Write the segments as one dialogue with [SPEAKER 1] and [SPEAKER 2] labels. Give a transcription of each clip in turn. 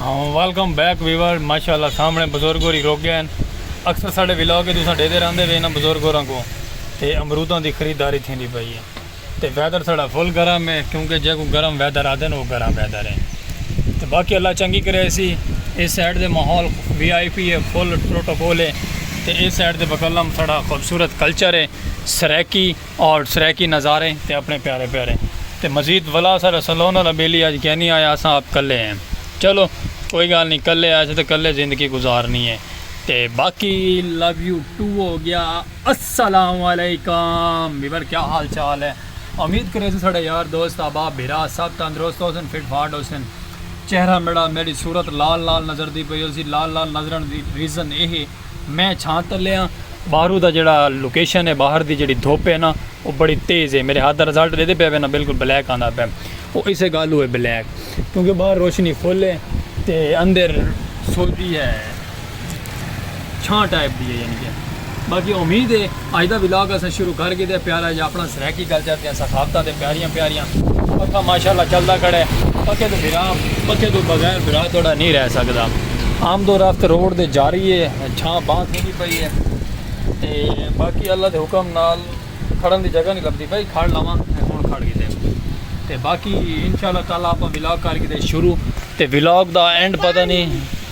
[SPEAKER 1] Welcome back viewer ماشاء اللہ سامنے بزرگ ہوری روک گئے ہیں اکثر سارے ولاگ کے تساں ڈیتے رہتے ہوئے انہوں بزرگ ہوراں کو تے امرودوں کی خریداری تھی نہیں پائی ہے تے ویدر سارا فل گرم ہے کیونکہ جے کو گرم ویدر آتے ہیں وہ گرم ویدر ہے تے باقی اللہ چنگی کرے سی اس سائڈ دے ماحول وی آئی پی ہے فل پروٹوکول ہے تے اس سائڈ دے بکلم سارا خوبصورت کلچر ہے سریکی اور سرائیکی نظارے تے اپنے پیارے پیارے تے مزید ولا اساڈا سلون والا بیلی اج کینی آیا اساں آپ کلے ہیں چلو کوئی گال نی کلے آئے سے تے کلے زندگی گزارنی ہے تے باقی لو یو ٹو ہو گیا السلام علیکم ویور کیا حال چال ہے امید کرے سے ساڈے یار دوست احباب بھرا سب تندرست ہو سن فٹ فاٹ ہو سن چہرہ میڈا میڈی صورت لال لال نظر دی پئی ہو سی لال لال نظرن دی ریزن اے ہے میں چھاں تلے ہاں باہرو دا جیڑا لوکیشن ہے باہر دی جیڑی دھوپ ہے نا او بڑی تیز ہے میرے ہاتھ دا رزلٹ ڈیدے پیا وے نا بالکل بلیک آندا پیا او اسے گالو ہے بلیک کیونکہ باہر روشنی فل ہے تے اندر سوجی ہے چھاں ٹائپ دی ہے یعنی کہ باقی امید ہے اج دا ولاگ اساں شروع کر گھدے پیارا جا اپنا سرائیکی کلچر دیاں ثقافتاں تے پیاریاں پیاریاں پکھا ماشاءاللہ چلدا کھڑے پکھے توں بھرا پکھے توں بغیر بھرا تہاڈا نی رہ سکدا آمد و رفت روڈ دے جاری اے چھاں باں تھیندی پئی اے تے باقی اللہ دے حکم نال کھڑن دی جگہ نی لبھدی پئی کھڑ لواں ہن کھڑ گھدے تے باقی انشاءاللہ تعالی اپاں ولاگ کر گھدے شروع تے ولاگ دا اینڈ پتہ نی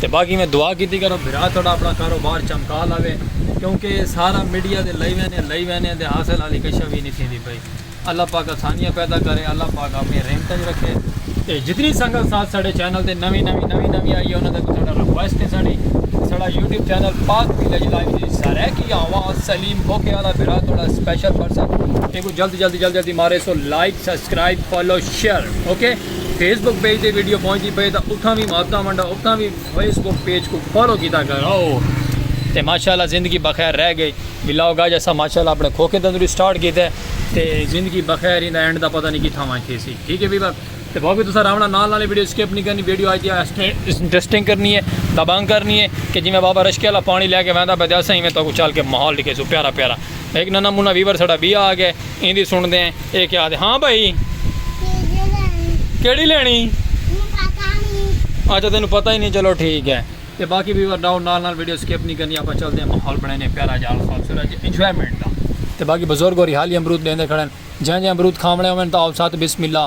[SPEAKER 1] تے باقی میں دعا کیتی کرو بھرا تہاڈا اپنا کاروبار چمکا لاوے کیونکہ سارا میڈیا دے لئی وینے لئی وینے دے حاصل حالی کشا وی نی تھیندی پئی اللہ پاک آسانیاں پیدا کرے اللہ پاک اپنی رحمتاں وچ رکھے تے جتنی سنگت ساتھ ساڈے چینل تے نویں نویں نویں نویں آئی ہے انہاں دا ساڈا ریکویسٹ ہے ساڈی ساڈا یوٹیوب چینل پاک دی لج لائیو دی سرائیکی آواز سلیم بھوکے والا بھرا تھوڑا سپیشل پرسن ایکو جلد جلد جلد جلد مارے سو like subscribe follow share okay Facebook page تے ویڈیو پہنچدی پئے تاں اتھاں وی محبتاں ونڈا اتھاں وی فیس بک پیج کو فالو کیتا کرو تے ماشاءاللہ زندگی بخیر رہ گئی ولاگ گاج اسا ماشاءاللہ اپنے کھوکے تندری سٹارٹ کیتا ہے تے زندگی بخیر ایندا اینڈ دا پتہ نہیں کتھاں وائیں تھی سی ٹھیک ہے بھی بک تے بھاوی تسا راونا نال نال ویڈیو سکپ نہیں کرنی ویڈیو آئی دی انٹرسٹنگ کرنی ہے دبنگ کرنی ہے کہ جی میں بابا رشکے والا پانی لے کے ویندا پہ اسا ایویں تو چل کے ماحول ڈکھے سو پیارا پیارا ہک ننھا منھا ویور ساڈا ٻیا آ ڳئے۔ ایندی سݨدیں اے کیا آہدے ہاں بھائی۔ چیزیں لینڑی۔ کیڑھی لینڑی؟ مینوں پتہ نی۔ اچھا تینوں پتہ ای نی چلو ٹھیک ہے۔ تے باقی ویور ݙاؤ نال نال ویڈیو سکپ نی کرنی آپاں چلدے ہیں ماحول بݨیندے ہیں پیارا جا خوبصورت جے انجوائمنٹ دا۔ تے باقی بزرگ ہوری حالی امرود ݙیندے کھڑن جئیں جئیں امرود کھاوݨے ہوون تاں آؤ ساتھ بسم اللہ۔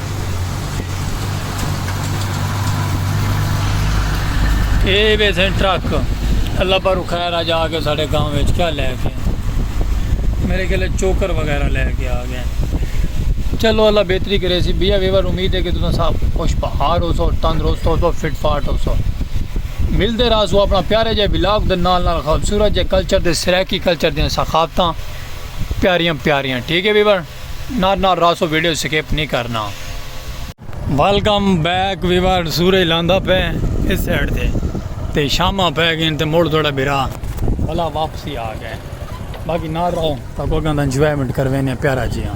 [SPEAKER 1] اے وے سن ٹرک اللہ پر خیر آ جا کے سارے گاؤں میں کیا لے کے میرے گلے چوکر وغیرہ لے کے آ گئے چلو اللہ بہتری کرے سی بیا ویور امید ہے کہ تم سب خوش بہار ہو سو تندرست ہو سو فٹ فاٹ ہو سو ملتے رہا سو اپنا پیارے جے بلاگ دے نال نال خوبصورت جے کلچر دے سرائیکی کلچر دے ثقافتاں پیاریاں پیاریاں ٹھیک ہے ویور نال نال راسو ویڈیو سکپ نہیں کرنا۔ ویلکم بیک ویور سورج لاندا پے اس سائیڈ تے تے شاماں پے گئن تے مڑ تہاڈا بھرا بھلا واپسی آ گئے باقی نال رہو تاں کو گند انجوائمنٹ کروینے پیارا جیاں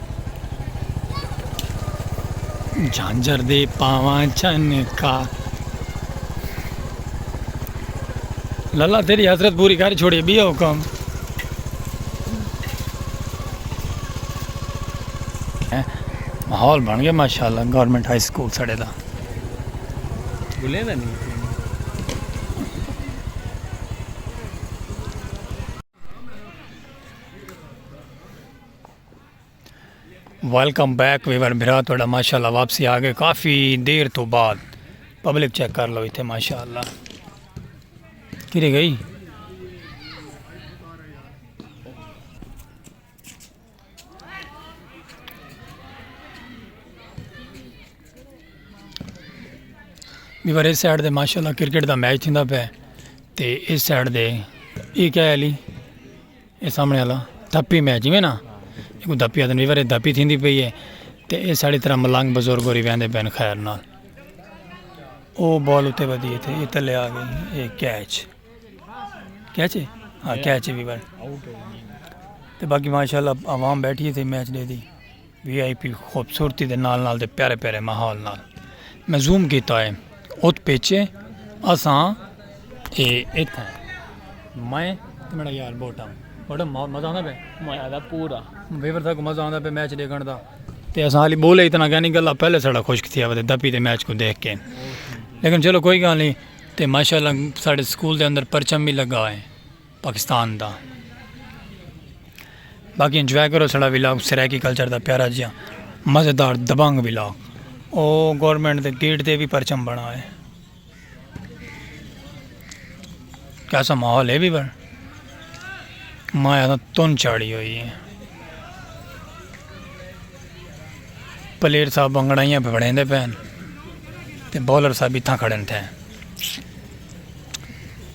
[SPEAKER 1] جھانجھر دے پاواں چن کا للا تیری حسرت پوری کر چھوڑی بیا حکم ماحول بن گیا ماشاءاللہ گورنمنٹ ہائی سکول سڑے دا
[SPEAKER 2] بھولے دا نہیں
[SPEAKER 1] ویلکم بیک ویور بھرا تھوڑا ماشاءاللہ واپسی آ گئے کافی دیر تو بعد پبلک چیک کر لو اتنے ماشاءاللہ کھری گئی ویور اس سائڈ دے ماشاءاللہ کرکٹ دا میچ تھیندا پہ تے اس سائڈ دے یہ کیا ہے علی اے سامنے والا دھپی میں جویں نا اکو دھپی آدن ویور اے دھپی تھیندی پئی اے تے اے ساڑی طرح ملنگ بزرگ ہوری ویندے پین خیر نال او بال اتے ودی اے تے اے تلے آ گئی اے کیچ کیچ اے ہاں کیچ اے ویور تے باقی ماشاءاللہ عوام بیٹھی اے تے میچ دے دی۔ وی آئی پی خوبصورتی دے نال نال تے پیارے پیارے ماحول نال میں زوم کیتا ہے ات پیچھے اساں اے اتھاں میں تے میڈا یار بوٹم بوٹم مزہ آندا پے میں آدا پورا
[SPEAKER 2] ویور تھا کو مزہ آندا
[SPEAKER 1] پے میچ دیکھن دا تے اساں علی بولے اتنا کہنی گلا پہلے سڑا خشک تھیا ودے دپی تے میچ کو دیکھ کے لیکن چلو کوئی گل نہیں تے ماشاءاللہ ساڈے سکول دے اندر پرچم بھی لگا ہے پاکستان دا باقی انجوائے کرو سڑا ولاگ سرائیکی کلچر دا پیارا جیا مزیدار دبنگ ولاگ او گورنمنٹ دے گیٹ دے بھی پرچم بنا ہے کیسا ماحول ہے بھی بر میں آتا تن چاڑی ہوئی ہے پلیئر صاحب بنگڑائیاں پہ بڑھیں دے پہن تے بولر صاحب بھی تھا کھڑن تھے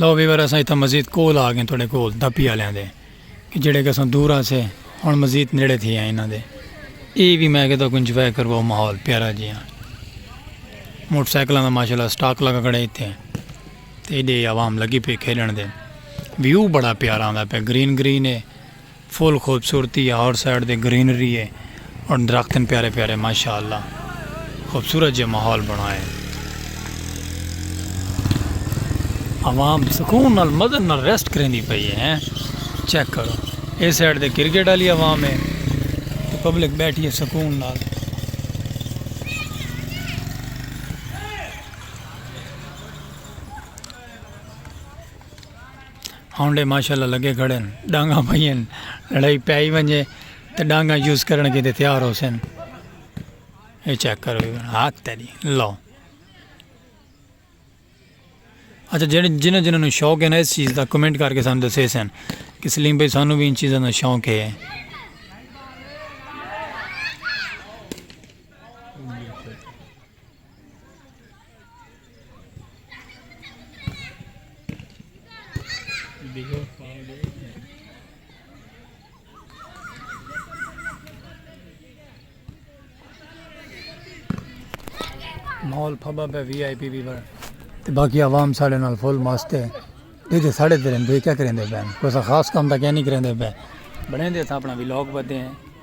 [SPEAKER 1] لو ویور اساں اتھا مزید کول آ گئے تھوڑے کول دپی والے دے کہ جڑے کہ اساں دور سے ہن مزید نیڑے تھی آئے انہاں دے اے بھی میں کہتا کہ انجوائے کرو ماحول پیارا جی ہاں موٹر سائیکلاں دا ماشاءاللہ سٹاک لگا کھڑے ایتھے تے ایڈے عوام لگی پی کھیلن دے ویو بڑا پیارا آندا پیا گرین گرین ہے فل خوبصورتی ہے آؤٹ سائیڈ تے گرینری ہے اور درخت ہیں پیارے پیارے ماشاءاللہ خوبصورت جے ماحول بنایا ہے عوام سکون نال مزے نال ریسٹ کریندی پئی ہے ہیں چیک کرو اے سائیڈ تے کرکٹ والی عوام ہے پبلک بیٹھی ہے سکون نال ہانڈے ماشاءاللہ لگے کھڑے ہن ڈانگاں پئی ہن لڑائی پے ہی ونجے تے ڈانگاں یوز کرن کیتے تیار ہوسن اے چیک کرو ہاتھ تیری لو اچھا جڑے جنہاں جنہاں نو شوق ہے نا اس چیز دا کمنٹ کر کے سان دسے سن کہ سلیم بھائی سانو بھی ان چیزاں دا شوق ہے ماحول پھبا پہ وی آئی پی بھی بڑا تے باقی عوام ساڑے نال فل مست ہے یہ تے ساڑے تے رہندے کیا کریندے پے کوئی خاص کام دا کیا نہیں کریندے پے بڑے دے تھا اپنا وی لوگ بدے ہیں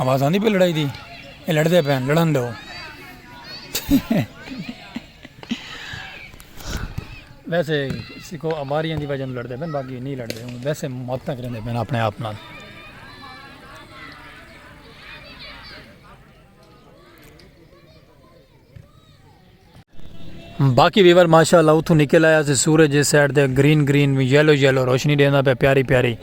[SPEAKER 1] آواز آندی پہ لڑائی دی یہ لڑتے پہ لڑن دو ویسے سکو اماریاں دی وجہ لڑتے پہ باقی نہیں لڑتے ہوں ویسے محبت کرتے پہ اپنے آپ نال باقی ویور ماشاء اللہ اتوں نکل آیا سے سورج جس سائڈ دے گرین گرین یلو یلو روشنی دینا پہ پیاری پیاری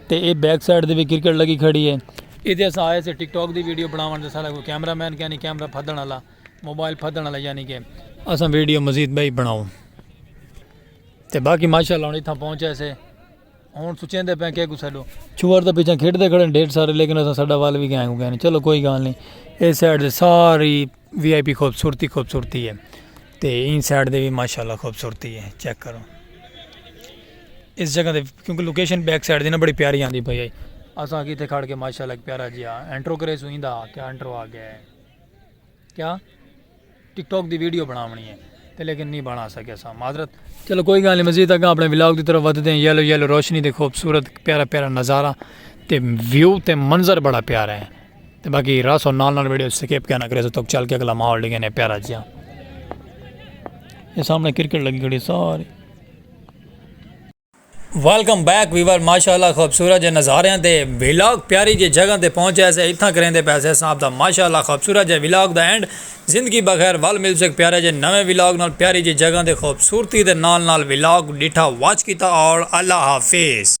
[SPEAKER 1] تے اے بیک سائڈ دے بھی کرکٹ لگی کھڑی ہے ادھے سے آئے سے ٹک ٹاک دی ویڈیو بناون دے سارا کوئی کیمرہ مین کہنی کیمرہ پھدن اللہ موبائل پھدن والا یعنی کہ اساں ویڈیو مزید بھائی بناؤ تے باقی ماشاءاللہ ہن اتھاں پہنچے سے ہن سوچیندے پے کہ کو سڈو چور تے پیچھے کھیڈدے کھڑے ڈھیر سارے لیکن اساں ساڈا وال وی گئے گئے چلو کوئی گال نہیں اے سائڈ تے ساری وی آئی پی خوبصورتی خوبصورتی ہے تے این سائڈ دے وی ماشاءاللہ خوبصورتی ہے چیک کرو اس جگہ دے کیونکہ لوکیشن بیک سائڈ دی نا بڑی پیاری آندی پئی ہے اساں کیتے کھڑ کے ماشاءاللہ ایک پیارا جیا انٹرو کرے سو ایندا کیا انٹرو آ گیا ہے کیا ٹک ٹاک دی ویڈیو بناونی ہے تے لیکن نہیں بنا سکے سا معذرت چلو کوئی گل نہیں مزید اگاں اپنے ولاگ دی طرف ودھدے ہیں یلو یلو روشنی دے خوبصورت پیارا پیارا نظارہ تے ویو تے منظر بڑا پیارا ہے تے باقی راسو نال نال ویڈیو سکیپ کہنا کرے سو تک چل کے اگلا ماحول ڈگے نے پیارا جیا یہ سامنے کرکٹ لگی کھڑی ساری ویلکم بیک ویور ماشاءاللہ خوبصورت جے نظاریاں تے ویلاگ پیاری جے جگہ تے پہنچے سے اتھاں کریندے پیسے صاحب دا ماشاءاللہ خوبصورت جے ویلاگ دا اینڈ زندگی بخیر ول مل سک پیارے جے نویں ویلاگ نال پیاری جے جگہ تے خوبصورتی دے نال نال ویلاگ ڈٹھا واچ کیتا اور اللہ حافظ۔